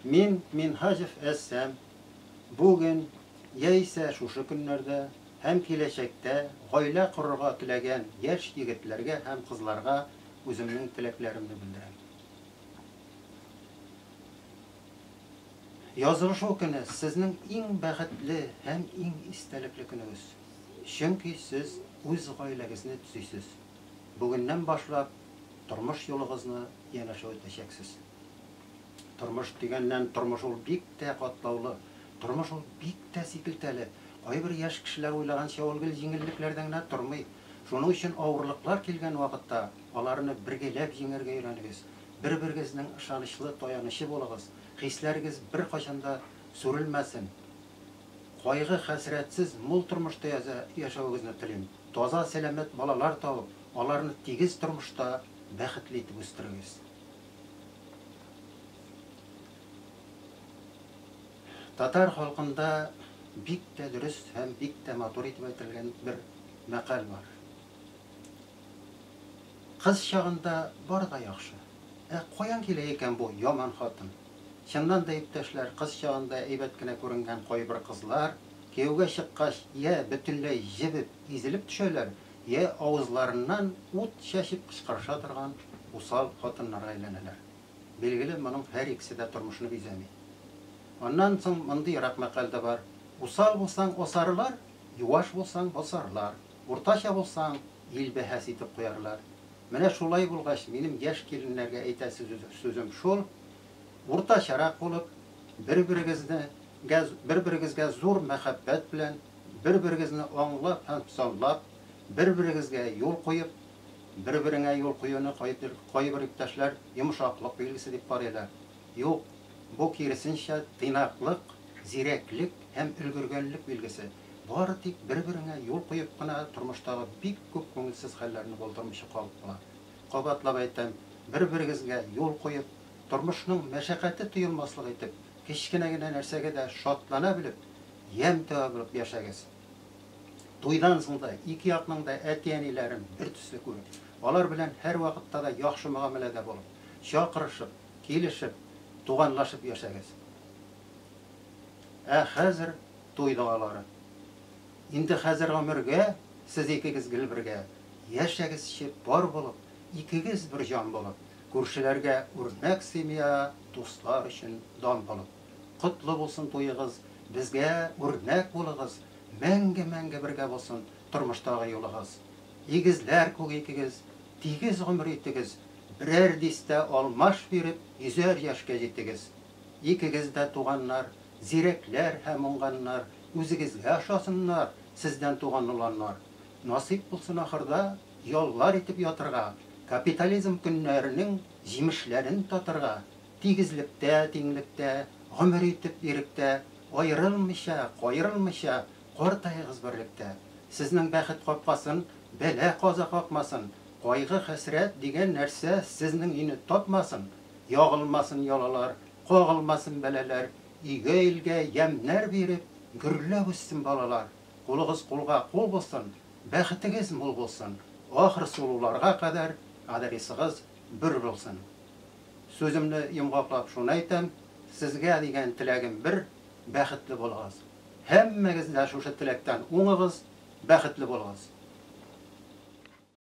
Мин Минһаҗев Әссәм. Бүген, яисә шушы көннәрдә һәм киләчәктә гаилә корырга теләгән яшь егетләргә һәм кызларга үземнең теләкләремне белдерәм. Язылышу көне сезнең иң бәхетле һәм иң истәлекле көнегез, чөнки сез үз гаиләгезне төзисез. Бүгеннән башлап тормыш юлыгызны янәшә үтәчәксез. Тормыш дигәннән, тормыш ул бик тә катлаулы, тормыш ул бик тә сикелтәле. Кайбер яшь кешеләр уйлаганча ул гел җиңеллекләрдә генә тормый. Шуның өчен авырлыклар килгән вакытта аларны бергәләп җиңәргә өйрәнегез, бер-берегезнең ышанычлы таянычы булыгыз, хисләрегез беркайчан да сүрелмәсен. Кайгы-хәсрәтсез, мул тормышта яшәвегезне телим. Таза, сәламәт балалар табып, аларны тигез тормышта бәхетле итеп үстерегез. Татар халкында бик тә дөрес һәм бик тә матур итеп әйтелгән бер мәкаль бар. Кыз чагында бары да яхшы. Ә каян килә икән бу яман хатын? Чыннан да, иптәшләр, кыз чагында әйбәт кенә күренгән кайбер кызлар, кияүгә чыккач, йә бөтенләй җебеп, изелеп төшәләр, йә авызларыннан ут чәчеп кычкырыша торган усал хатыннарга әйләнәләр. Билгеле, моның һәр икесе дә тормышны бизәми. Аннан соң мондыйрак мәкаль дә бар, Усал булсаң, асарлар, юаш булсаң, басарлар. Уртача булсаң, ил бәһас итеп куярлар. Менә шулай булгач, минем яшь киленнәргә әйтәр сүзем шул, уртачарак булып, бер-берегезне гә, бер-берегезгә зур мәхәббәт белән, бер-берегезне аңлап һәм санлап, бер-берегезгә юл куеп, бер-береңә юл куюны кайбер иптәшләр йомшаклык билгесе дип карыйлар. Юк, бу киресенчә, тыйнаклык, зирәклек һәм өлгергәнлек билгесе. Бары тик бер-береңә юл куеп кына тормыштагы бик күп күңелсез хәлләрне булдырмыйча калып була. Кабатлап әйтәм, бер-берегезгә юл куеп, тормышның мәшәкате тоелмаслык итеп, кечкенә генә нәрсәгә дә шатлана белеп, ямь таба белеп яшәгез. Туйдан соң да ике якның да әти-әниләрен бертөсле күреп, алар белән һәрвакытта да яхшы мөгамәләдә булып, чакырышып, килешеп, туганлашып яшәгез. Ә хәзер. Туй догалары. Инде хәзер гомергә Сез икегез гел бергә. Яшәгез чеп пар булып, Икегез бер җан булып. Күршеләргә үрнәк семья, Дуслар өчен дан булып. Котлы булсын туегыз, Безгә үрнәк булыгыз, Мәңге-мәңге бергә булсын Тормыштагы юлыгыз. Игезләр күк икегез, Тигез гомер итегез, Берәр дистә алмаш биреп, Йөзәр яшькә җитегез. Икегез дә туганнар, зирәкләр һәм уңганнар, үзегезгә ошасыннар, сездән туган оланнар. Насыйп булсын ахырда яллар итеп ятырга, капитализм көннәренең җимешләрен татырга, тигезлектә, тиңлектә, гомер итеп иректә, аерылмыйча, каерылмыйча картаегыз берлектә. Сезнең бәхет капкасын бәла-каза какмасын, кайгы-хәсрәт дигән нәрсә сезнең өйне тапмасын. Ягылмасын ялалар, кагылмасын бәлаләр, Өйгә-илгә ямьнәр биреп, гөрләп үссен балалар. Кулыгыз кулга кул булсын, бәхетегез мул булсын, Ахыр сулуларга кадәр адресыгыз бер булсын. Сүземне йомгаклап шуны әйтәм, Сезгә дигән теләгем бер, бәхетле булыгыз. Һәммәгез дә шушы теләктән уңыгыз, бәхетле булыгыз.